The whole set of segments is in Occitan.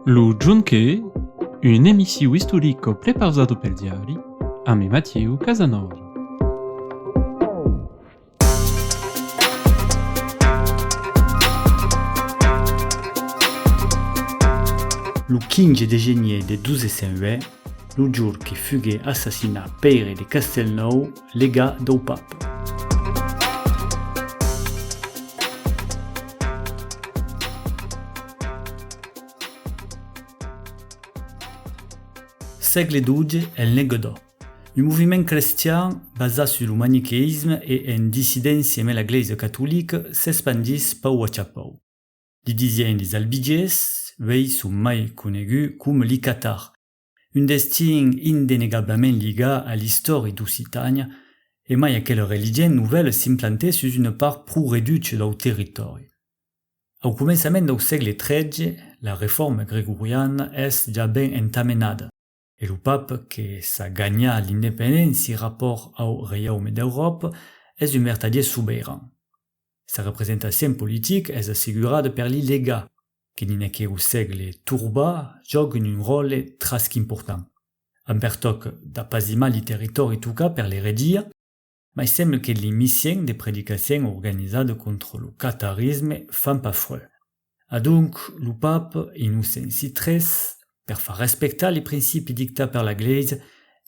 Lo Jonque, un emissiu istorico prepausado pel diari ame Matieu Casanova. Lo 15 de genier de 1208, lo jorque fugué assassinat pèire de Castelnòu, Lega dau pap. Sègle xii en Lenguedoc. Un moviment crestian basat sus lo maniqueïsme e en dissidéncia emé la glèisa catolica s'espandís pau a chapau. Li disien li Zalbigés, uèi son mai conegut com li Catar, un destin indenegablament liga a l'istòri d'Occitània, e mai aquel religent novèl s'implantèt sus una part pro reducha dau territòri. Au començament dau sègle XIII, la Refòrma gregoriana es ja ben entamenada, e lo Pape que s'a ganhat l'independéncia rapòrt au Reiaume d'Euròpa es un vertadier subeiran. Sa representacion politic es assegurada per li legat, que dins aqueu sègle torbà jòguen un ròle tras qu'important, en pertòc d'apasimar li territòri tocat per l'eretgia, mai semble que li missièn de predicacièn organizada contra lo catarisme fan pas fuèlh. Adonc, lo pap Innocenci tres, per far respectar li principi dictat per la Glèisa,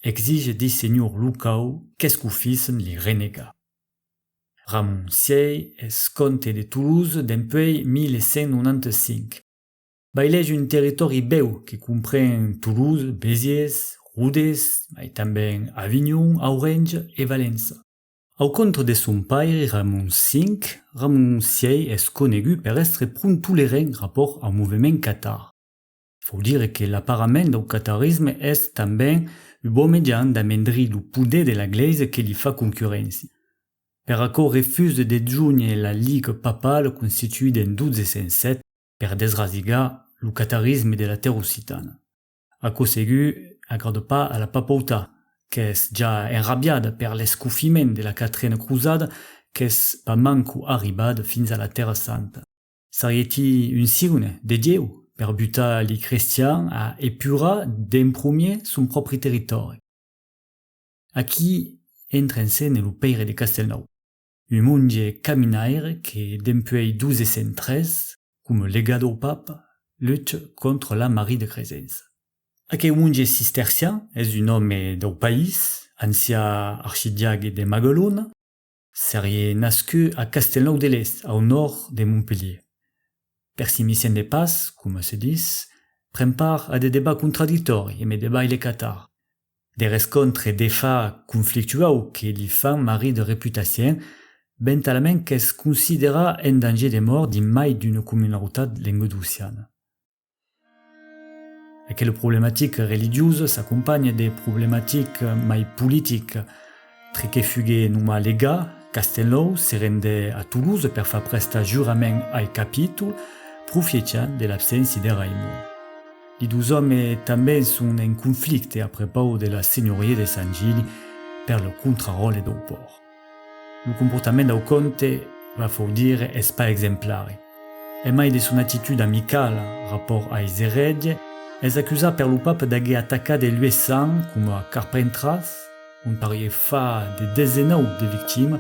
exige dei senhors locau qu'escofissen li renegar. Ramoncièi es comte de Toulouse dempuèi 1195. Bailègi un territòri bèu que compren Toulouse, Béziers, Rodés, mai tanben Avinhon, Aurenge e Valença. Au contra de son pairi Ramon V, Ramoncièi es conegut per èstre pron tolerent rapòrt au movement catar. Faut dire que l'aparament dau catarisme es tanben u bon mejan d'amendrir lo poder de la Glèisa que li fa concurréncia. Per aquò refuse de junher la Ligue papale constituida en 1207 per desrasigar lo catarisme de la tèrra occitana. Aquò segur agrada pas a la papautat qu'es ja enrabiada per l'escofiment de la Quatrena Crusada qu'es pas manco arribada fins a la Tèrra Santa. S'arrieti un signe de Dieu per butar li crestian a epurar d'en promier son pròpri territòri. Aquí entra en scène lo Pèire de Castelnau, un monge caminaire que dempuèi 1203, coma legat au Papa, lucha contra la Marie de Cresença. Aqueu monge cistercian es un òme dau país, ancià archidiague de Magalona, Serie nascut a Castelnau de l'Est, au nòrd de Montpelhier. Per si m'issemble pas, coma se dis, pren part a de debats contradictòri e me debaile catar. De rescontre defa conflictuau que li fan marri de reputacien, bentalament qu'es considerar en danger de mòrt dins mai d'una comunautat lenguedociana. Aquela problematica religiosa s'acompanha de problematica mai politica, tre que fugue noma Legà, Castelnòu se rende a Toulouse per far prestar jurament ai capítol, profiechant de l'abséncia de Raimond. Li dos òmes tanben son en conflicte a prepau de la senhoria de Sant Gili per lo contraròtle dau pòrt. Lo comportament dau comte va fau dire es pas exemplari. En mai de son actitud amicala rapòrt a Izered, es acusat per lo pape d'aguer atacat e lues sang coma Carpentras, ont parié fa de desenau de victima,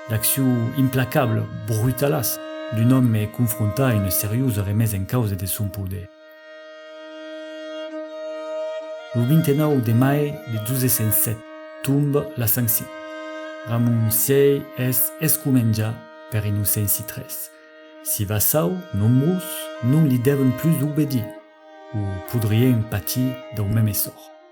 l'acciu implacable, brutalas, d'un òme confrontat a una seriosa remesa en causa de son poder. Lo 29 de mai de 1207 tombe la Sanction. Ramon vi es escomenjat per Inocenci iii. Si vassau nombrós non li devon plus obedir, o podrien patir dau meme sòrt.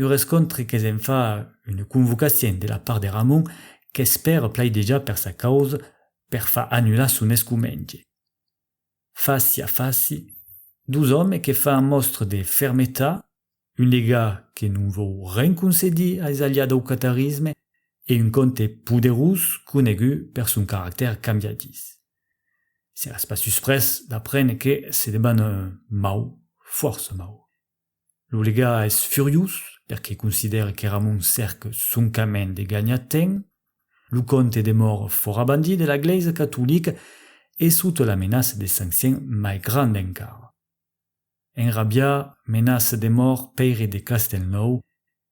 Un rescontre que se'n fa una convocacion de la part de Ramon qu'espèr plaidejar per sa causa per far annular son escomenge. Fasi a fasi, dos òmes que fan mòstra de fermetat, un degà que non vòu ren concedir a es aliats dau catarisme e un comte poderós conegut per son caractèr cambiadís. Seràs pas susprés d'aprendre que se deban mau, fòrça mau. Lo legà es furiós perque considère qu'Eramon cèrque soncament de ganhar temps. Lo comte de Mor fora bandit de la glèisa catolica e sota la menaça de sanccion mai granda encara. Enrabià, menaça de Mor Pèire de Castelnòu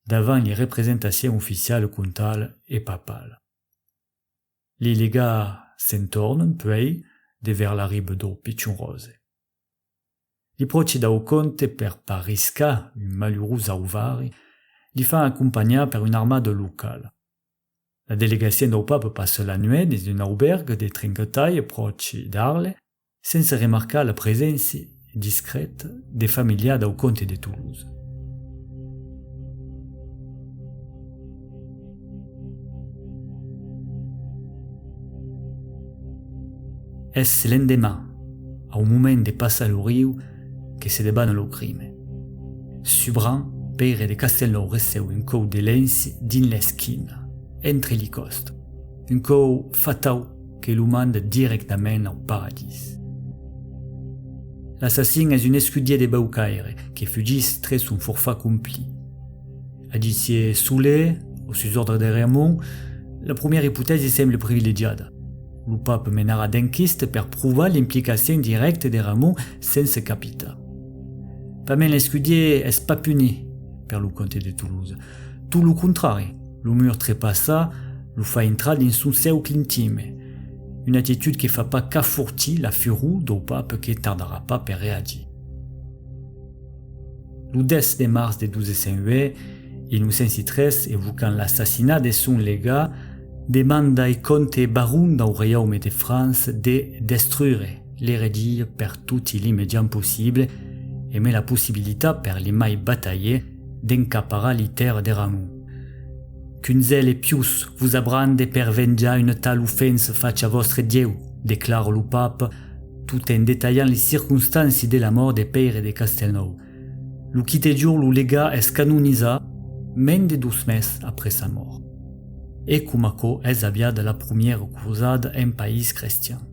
davant li representacion oficiala comtala e papala. Li legà s'en tornen puèi de vers la riba dau Pichon Rose. Li pròchi dau comte per pas riscar un malurós auvari, li fa acompanhar per un armada locala. La delegacion dau pape passa la nuèt dins un aubèrg de Trinquetalh pròchi d'Arles sense remarcar la preséncia discrèta de familiar dau comte de Toulouse. Es l'endeman, au moment de passar lo riu, que se debana lo crime. Subran, Pere de Castelnòu receu un còu de lenç dins l'esquina, entre li còst, un còu fatau que lo manda dirèctament au paradís. L'assassin es un escudier de Baucaire que fugís tre son forfar compli. A disier Soler, o sus òrdre de Réamont, la primièra ipotèsi semble privilegiada. Lo pape menarà d'enquiste per provar l'implicacion dirècta de Réamont sense capita. Pament l'escudier es pas puni per lo comte de Toulouse. Tot lo contrari, lo mur trepassa, lo fa intrar dins son cèucle intime. Una atitud que fa pas qu'afortir la furor dau pape que tardarà pas per reagir. Lo 10 de març de 1283, evocant l'assassinat de son legat, demandai Comte Baron dau Reiaume de França de destruire l'eregia per toti li mejans possibles e mai la possibilitat per li mai batailler d'encaparar li tèrra de Ramon. Qu'un zel e pius vos abrande per venjar una tal ofensa facha vòstre Dieu, declara lo Pape, Tot en detalhant les circonstàncies de la mòrt de Pèire de Castelnòu. Lo quite jorn lo legà es canonizat, mens de dos mes après sa mòrt. E com aquò es aviada la promièra crosada en país crestian.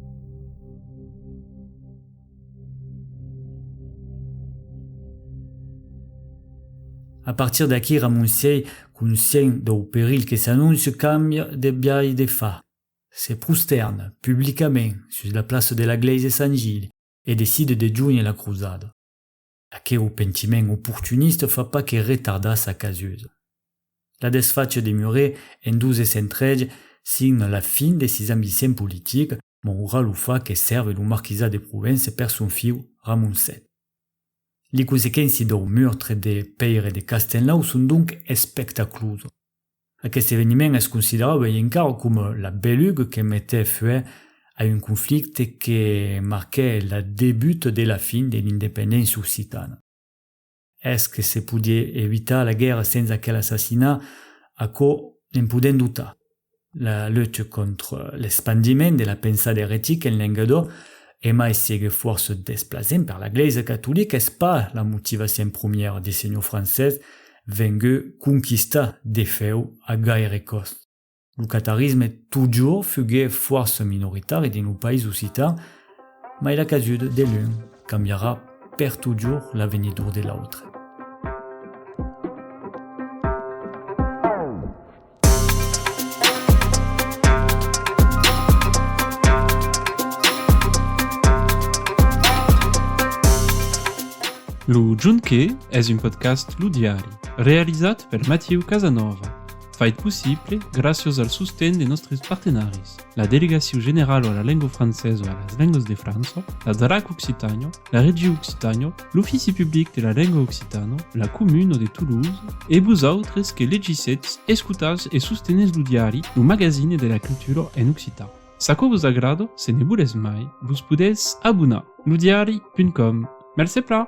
A partir d'aquí Ramon sièi conscient dau perilh que s'anóncia cambia de biais de far. Se prostèrn publicament sus la plaça de la glèisa Sant Gilh e decide de jónher la crosada. Aqueu pentiment oportunista fa pas que retardar sa casusa. La desfacha de Muret en dos essentrelhs signa la fin de sis ambiciens politics, maura lo fach que sèrve lo marquisat de Provença per son fiu Ramon vii. Li consequénci dau meurtre de Pèire de Castenlau son donc espectaclusa. Aqueste eveniment es considerat uèi encara coma la beluga que metèt fuèlh a un conflicte que marquèt la debuta de la fin de l'independéncia occitana. Es que se podie evitar la guèrra sens aquel assassinat? Aquò ne'n podèm dotar. La lucha contra l'espandiment de la pensada eretica en Lengadó, e mai siguec fòrça desplacent per la Glèisa catolica, es pas la motivacion promièra de senhor Francés, vengueu conquistar de fèu a gaire còst. Lo catarisme totjorn fugué fòrça minoritari dins lo país occitan, mai la casuda de l'un cambiarà per totjorn l'avenidor de l'autre. Lo Junqué es un podcast Lo Diari, realizat per Matiu Casanova, fait possible gràcias al sosten de nostres partenaris, la Delegacion Generala a la Lenga Francesa e a las Lengas de França, la DRAC Occitània, la Regiu Occitània, l'Ofici Public de la Lenga Occitana, la Comuna de Toulouse, e vos autres que legissetz, escotatz e sostenètz lo diari, lo magazine de la cultura en occitan. S'aquò vos agrada, se ne volètz mai, vos podètz abonar. Lodiari.com Mercé plan!